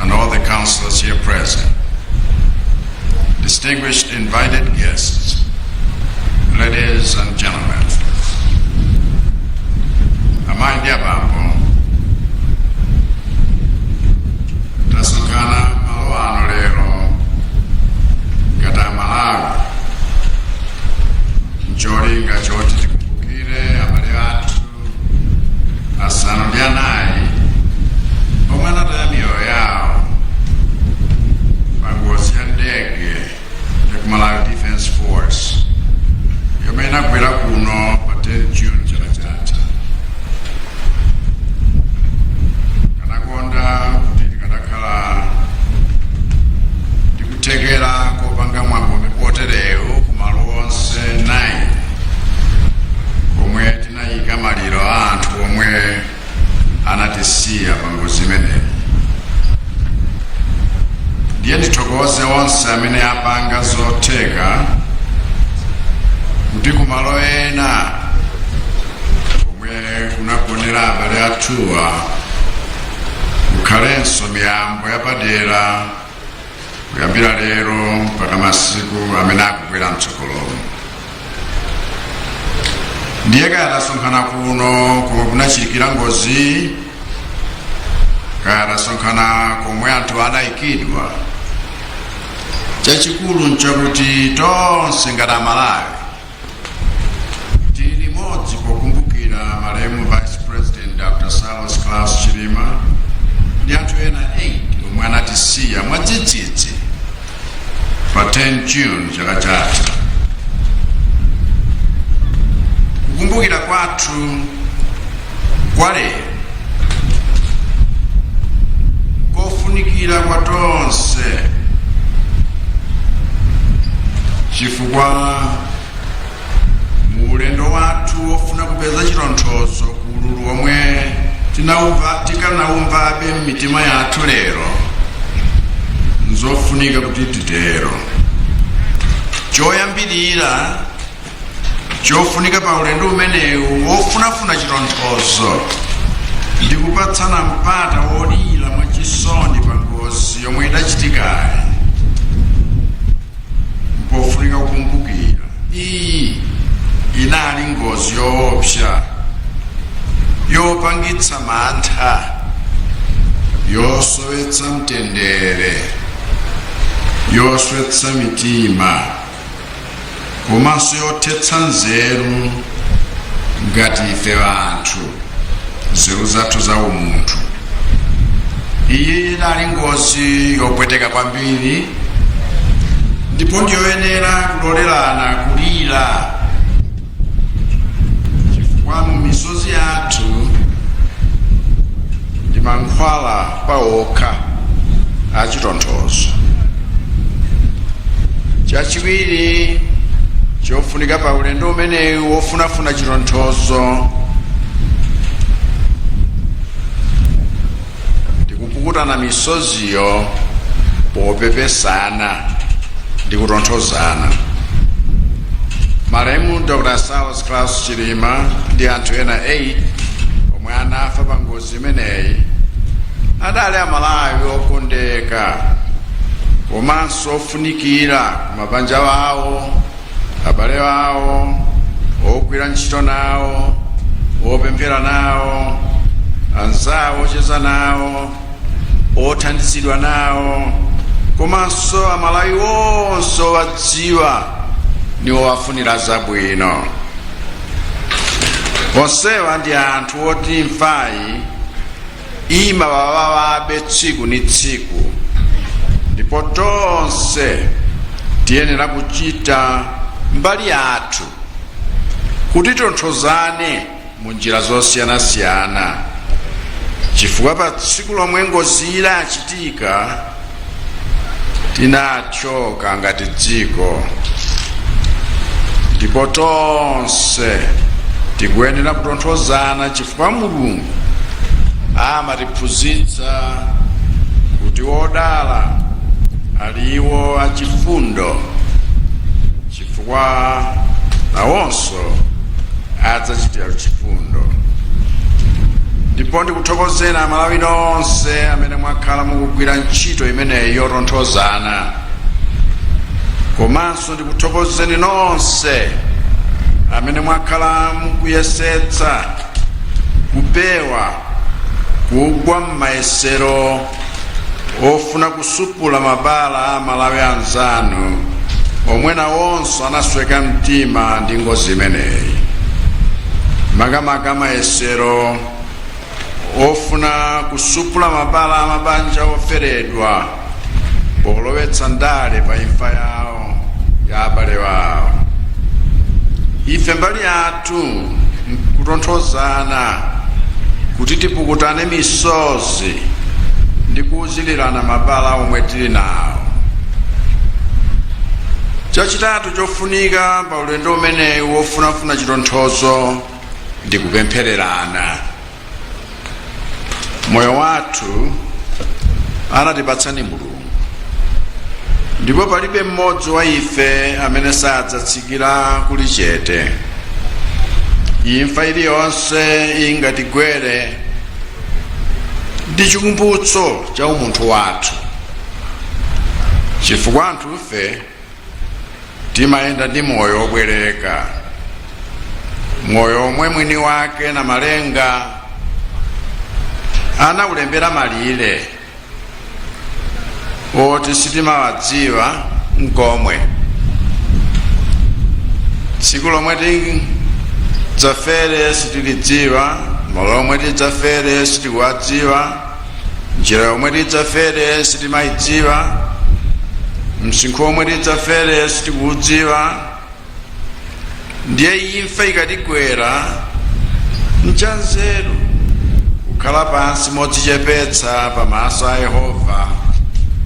and all the councillors here present, distinguished invited guests, ladies and gentlemen, amai ndi abambo, tasonkhana malo ano lero ngati amalawi ncholinga choti tikumbukire abale athu asanu ndi anayi omwe anataya miyoyo yawo pa ngozi ya ndege ya ku Malawi Defence Force yomwe inagwera kuno pa 10 June chaka chatha. Tikanakonda kuti tikadakhala nkuthekera kopanga mwambo woterewu ku malo onse 9 komwe tinayika maliro a anthu omwe anatisiya pa ngozi imeneyi ndiye ndithokoze onse amene apanga zotheka kuti ku malo ena komwe kunagonera abale athuwa kukhalenso miyambo yapadera kuyambira lero mpaka masiku amene akubwera mtsogolomo ndiye kaya tasonkhana kuno komwe kunachitikira ngozi kaya tasonkhana komwe anthu adayikidwa chachikulu nchakuti tonse ngati amalawi tili limodzi pokumbukira malemu vice president dr saulos klaus chilima ndi anthu ena 8 omwe anatisiya mwadzidzidzi pa 10 june chaka chatha kukumbukira kwathu Kwa lero nkofunikira kwa tonse chifukwa mu ulendo wathu wofuna kupeza chitonthozo ku ululu womwe tikanaumvabe m'mitima yathu lero nzofunika kuti titero choyambirira chofunika pa ulendo umenewu wofunafuna chitonthozo ndi kupatsana mpata wolira mwachisoni pa ngozi yomwe idachitikayi mpofunika kukumbukira iyi inali ngozi yoopsa yopangitsa mantha yosowetsa mtendere yoswetsa mitima komanso yothetsa nzeru ngati ife anthu nzeru zathu za umunthu iyi inali ngozi yopweteka kwambiri ndipo ndiyoyenera kulolerana kulira chifukwa mu misozi yathu ndi mankhwala pa okha a chitonthozo chachiwiri chofunika pa ulendo umenewu wofunafuna chitonthozo ndi kupukutana misoziyo popepesana ndi kutonthozana malemu dr saulos klaus chilima ndi anthu ena 8 omwe anafa pa ngozi imeneyi adali amalawi okondeka komanso ofunikira kumabanja wawo abale awo ogwira ntchito nawo opemphera nawo anzawo ocheza nawo othandizidwa nawo komanso amalawi onse owadziwa ndi owafunira zabwino onsewa ndi anthu oti imfayi imawawawabe tsiku ni tsiku ndipo tonse tiyenera kuchita mbali yathu kuti titonthozane mu njira zosiyanasiyana chifukwa pa tsiku lomwe ngoziyi inachitika tinathyoka ngati dziko ndipo tonse tikuyenera kutonthozana chifukwa mulungu amatiphunzitsa kuti odala ali iwo achifundo chifukwa nawonso adzachitiridwa chifundo ndipo ndikuthokozeni amalawi nonse amene mwakhala mukugwira ntchito imeneyi yotonthozana komanso ndikuthokozeni nonse amene mwakhala mukuyesetsa kupewa kugwa m'mayesero ofuna kusupula mabala a amalawi anzanu omwe nawonso anasweka mtima ndi ngozi imeneyi makamaka mayesero ofuna kusupula mabala a mabanja oferedwa polowetsa ndale pa imfa yawo ya abale wawo ife mbali yathu kutonthozana kuti tipukutane misozi ndi kuuzilirana mabala omwe tili nawo chachitatu chofunika pa ulendo umenewu wofunafuna chitonthozo ndi kupemphererana moyo wathu anatipatsa ndi mulungu ndipo palibe mmodzi wa ife amene sadzatsikira kulichete imfa iliyonse ingatigwere ndi chikumbutso cha umunthu wathu chifukwa anthufe timayenda ndi moyo wobwereka moyo omwe mwini wake namalenga anaulembera malire oti sitimawadziwa nkomwe tsiku lomwe tidzafere sitilidziwa malo omwe tidzafere sitikuwadziwa njira yomwe tidzafere sitimayidziwa msinkhu womwe tidzafere sitikuwudziwa ndiye imfa ikatigwera nchanzeru kukhala pansi modzichepetsa pamaso a yehova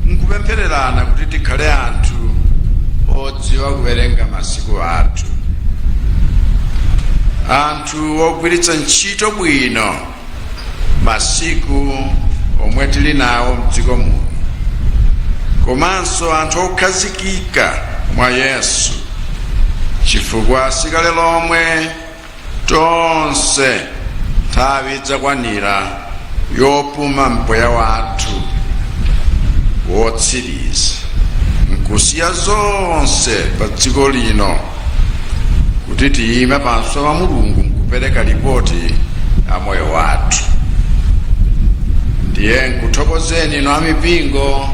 nkupemphererana kuti tikhale anthu odziwa kuwerenga masiku athu anthu ogwiritsa ntchito bwino masiku omwe tili nawo mdziko muno komanso anthu okhazikika mwa yesu chifukwa si kale lomwe tonse nthawi idzakwanira yopuma mpweya wathu wotsiriza nkusiya zonse pa dziko lino kuti tiyime pamaso pa mulungu nkupereka lipoti la moyo wathu ndiye nkuthokozeni inu amipingo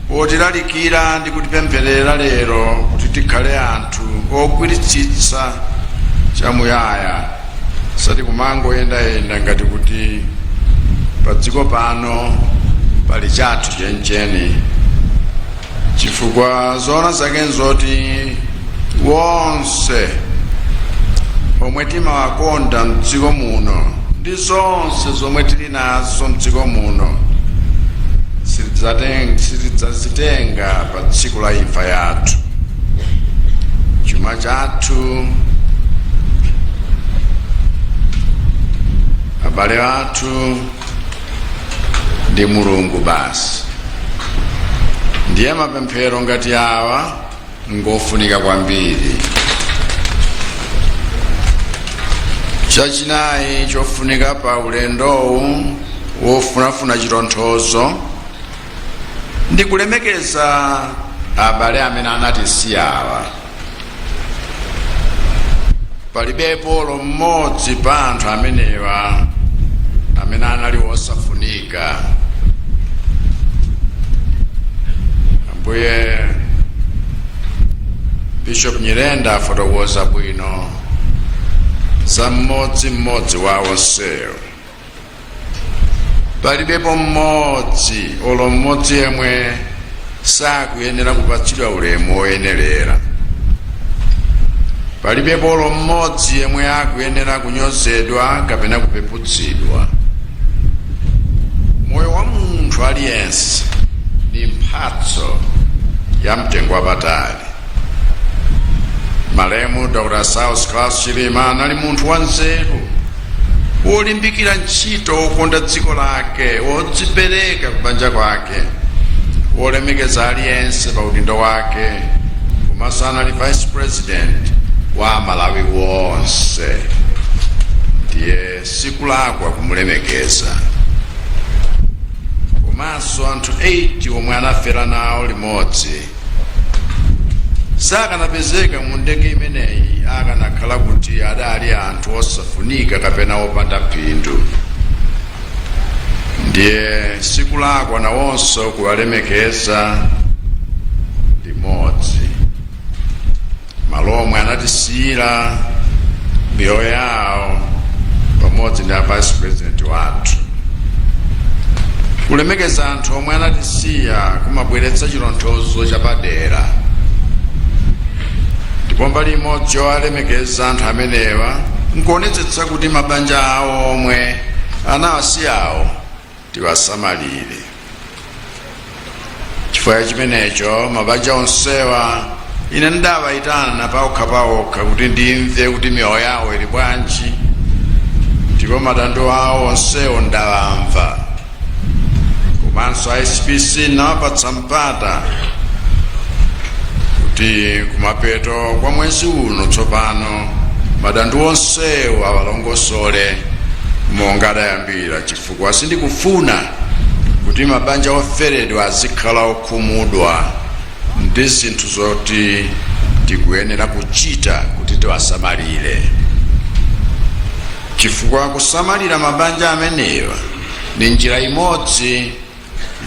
potilalikira ndi kutipempherera lero kuti tikhale anthu ogwiritsitsa chamuyaya osati kumangoyendayenda ngati kuti padziko pano pali chathu chenicheni chifukwa zoona zake nzoti wonse omwe timawakonda mdziko muno ndi zonse zomwe tili nazo mdziko muno sitidzazitenga pa tsiku la imfa yathu chuma chathu abale athu ndi mulungu basi ndiye mapemphero ngati awa ngofunika kwambiri chachinayi chofunika pa ulendowu wofunafuna chitonthozo ndi kulemekeza abale amene anatisiyawa palibepo olo mmodzi pa anthu amenewa amene anali wosafunika ambuye bishop nyirenda afotokoza bwino za mmodzi mmodzi wa onsewo palibepo mmodzi olo mmodzi yemwe sakuyenera kupatsidwa ulemu woyenerera palibepo olo mmodzi yemwe akuyenera kunyozedwa kapena kupeputsidwa moyo wa munthu aliyense ndi mphatso ya mtengo wapatali malemu dr saulos klaus chilima anali munthu wanzeru wolimbikira ntchito wokonda dziko lake wodzipereka kubanja kwake wolemekeza aliyense pa udindo wake komanso anali vice president wa amalawi onse ndiye sikulakwa kumulemekeza komanso anthu 8 omwe anafera nawo limodzi sakanapezeka mu ndege imeneyi akanakhala kuti adali anthu osafunika kapena opanda phindu ndiye sikulakwa nawonso kuwalemekeza limodzi malo omwe anatisiyira miyoyo yawo pamodzi ndi a vice president wathu kulemekeza anthu omwe anatisiya kumabweretsa chitonthozo chapadera ndipo mbali imodzi yowalemekeza anthu amenewa nkuonetsetsa kuti mabanja awo omwe anawasiyawo tiwasamalire chifukwa chimenecho mabanja onsewa ine ndidawayitana paokha paokha kuti ndimve kuti miyoyo yawo ili bwanji ndipo madando awo onsewo ndawamva komanso a spc ndinawapatsa mpata kuti kumapeto kwa mwezi uno tsopano madando onsewo awalongosole monga adayambira chifukwa sindikufuna kuti mabanja oferedwa azikhala okhumudwa ndi zinthu zoti tikuyenera kuchita kuti tiwasamalire, chifukwa kusamalira mabanja amenewa ndi njira imodzi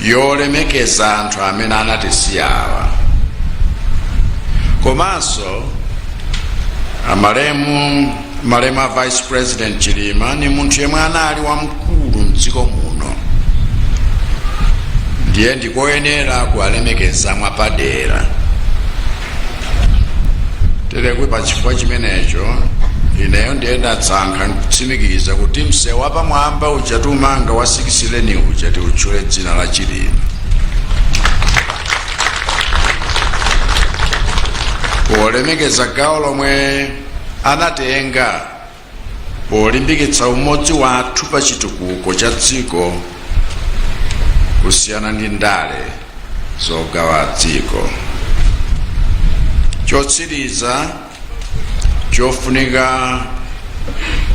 yolemekeza anthu amene anatisiyawa komanso malemu a vice president chilima ni munthu yemwe anali wamkulu mdziko muno ndiye ndikoyenera kuwalemekeza mwapadera tere kuti pa chifukwa chimenecho ineyo ndiye ndasankha kutsimikiza kuti msewu wapamwamba uja tikumanga wa six lane uja tiutchule dzina la chilima polemekeza gawo lomwe anatenga polimbikitsa umodzi wathu pa chitukuko cha dziko kusiyana ndi ndale zogawa dziko chotsiriza chofunika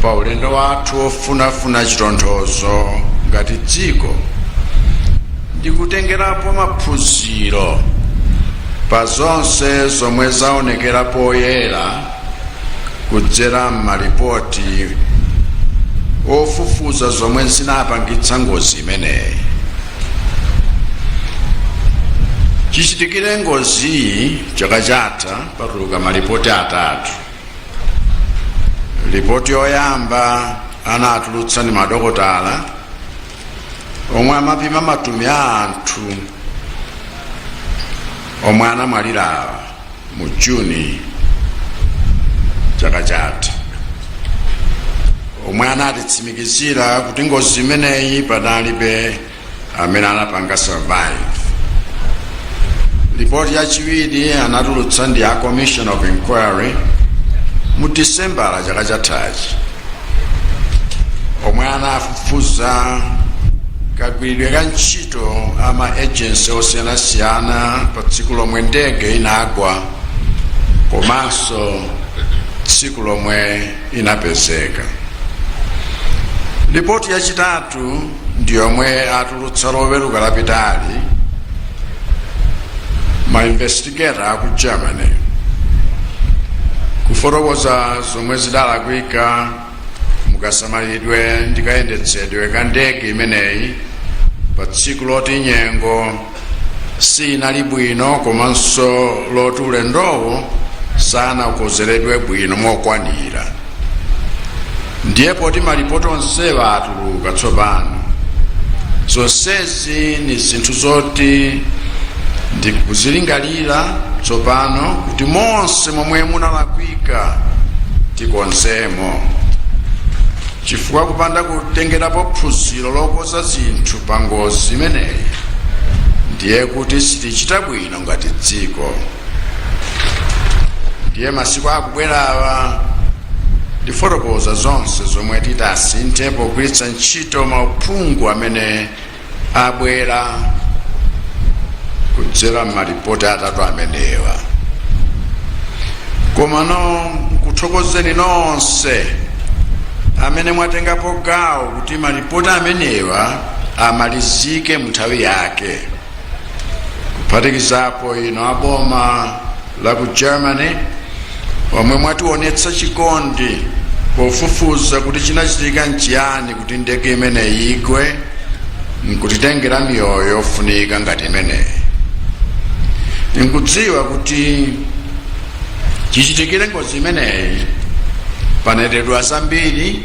pa ulendo wathu wofunafuna chitonthozo ngati dziko ndi kutengerapo maphunziro pa zonse zomwe zaonekera poyera kudzera m'malipoti ofufuza zomwe zinapangitsa ngozi imeneyi chichitikire ngoziyi chaka chatha patuluka malipoti atatu lipoti yoyamba anatulutsa ndi madokotala omwe amapima matupi a anthu omwe anamwalirawa mu juni chaka chatha omwe anatitsimikizira kuti ngozi imeneyi panalibe amene anapanga survive ripoti yachiwiri anatulutsa ndi a commission of inquiry mu disembala chaka chathachi omwe anafufuza kagwiridwe ka ntchito a ma agency osiyanasiyana pa tsiku lomwe ndege inagwa komanso tsiku lomwe inapezeka lipoti yachitatu ndi yomwe atulutsa loweruka lapitali ma investi gator aku germany kufotokoza zomwe zidalakwika mukasamalidwe ndi kayendetsedwe ka ndege imeneyi pa tsiku loti nyengo sinali bwino komanso loti ulendowu sanaukonzekere bwino mokwanira ndiye poti malipoti onsewa atuluka tsopano zonsezi ni zinthu zoti ndikuzilingalira tsopano kuti monse momwe munalakwika tikonzemo chifukwa kupanda kutengerapo phunziro lokonza zinthu pa ngozi imeneyi ndiye kuti sitichita bwino ngati dziko ndiye masiku akubwerawa ndifotokoza zonse zomwe titasinthe pogwiritsa ntchito mauphungu amene abwera kudzera m'malipoti atatu amenewa komano nkuthokozeni nonse amene mwatengapo gawo kuti malipoti amenewa amalizike mu nthawi yake kuphatikizapo inu a boma la ku germany omwe mwatiwonetsa chikondi pofufuza kuti chinachitika nchiyani kuti ndege imeneyi igwe nkutitengera miyoyo yofunika ngati imeneyi ndikudziwa kuti chichitikire ngozi imeneyi panenedwa zambiri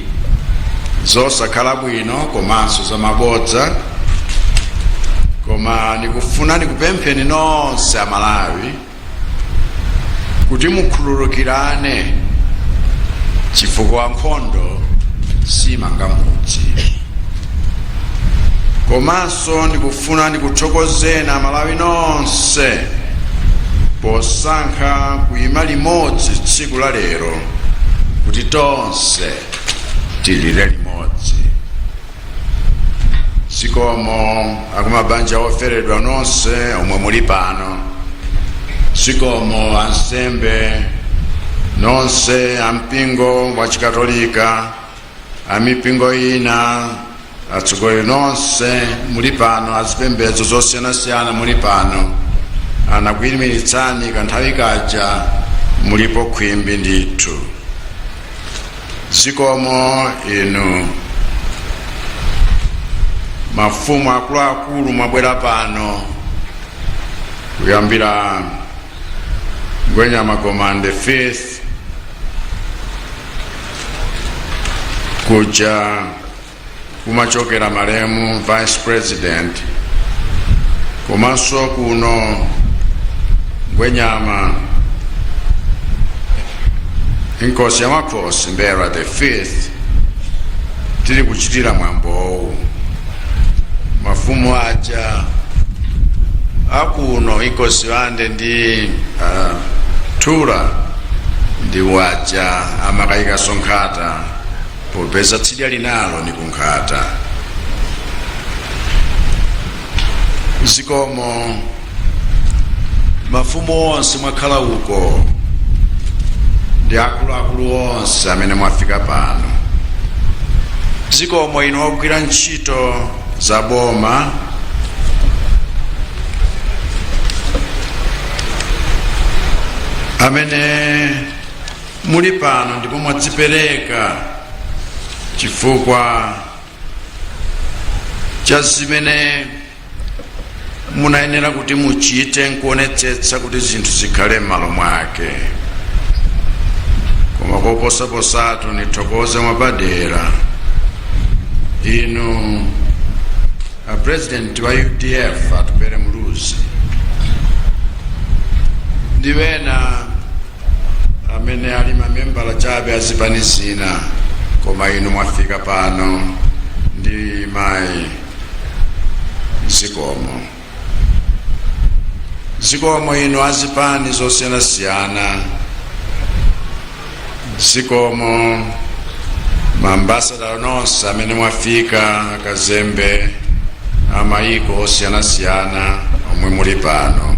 zosakhala bwino komanso zamabodza koma ndikufuna ndikupempheni nonse amalawi kuti mukhululukirane chifukwa nkhondo simanga mudzi komanso ndikufuna ndikuthokozeni amalawi nonse posankha kuyima limodzi tsiku la lero kuti tonse tilire limodzi zikomo akumabanja oferedwa nonse omwe muli pano zikomo ansembe nonse ampingo wa chikatolika amipingo ina atsogoleri nonse muli pano azipembedzo zosiyanasiyana muli pano anakuyimiritsani kanthawi kaja mulipo khwimbi ndithu zikomo inu mafumu akuluakulu mwabwera pano kuyambira ngwenyama gomani the fifth kuja kumachokera malemu vice president komanso kuno ngwenyama inkosi ya makhosi mbera the fifth tili kuchitira mwambowu mafumu aja akuno inkosi wande ndi uh, thura ndi waja amakayika sonkhata popeza tsidya linalo ni kunkhata zikomo mafumu onse mwakhala uko ndi akuluakulu onse amene mwafika pano zikomo inu ogwira ntchito za boma amene muli pano ndipo mwadzipereka chifukwa cha zimene munayenera kuti muchite nkuonetsetsa kuti zinthu zikhale m'malo mwake koma koposaposatu nithokoze mwapadera inu a president wa udf atupele muluzi ndi wena amene ali mamembala chabe a zipani zina koma inu mwafika pano ndi mayi zikomo zikomo inu a zipani zosiyanasiyana zikomo maambasada nonse amene mwafika akazembe a mayiko osiyanasiyana omwe muli pano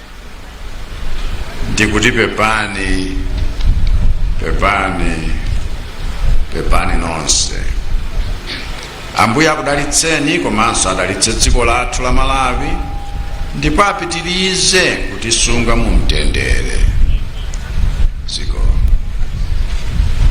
ndikuti pepani pepani pepani nonse ambuye akudalitseni komanso adalitse dziko lathu la malawi ndipo apitirize kutisunga mu mtendere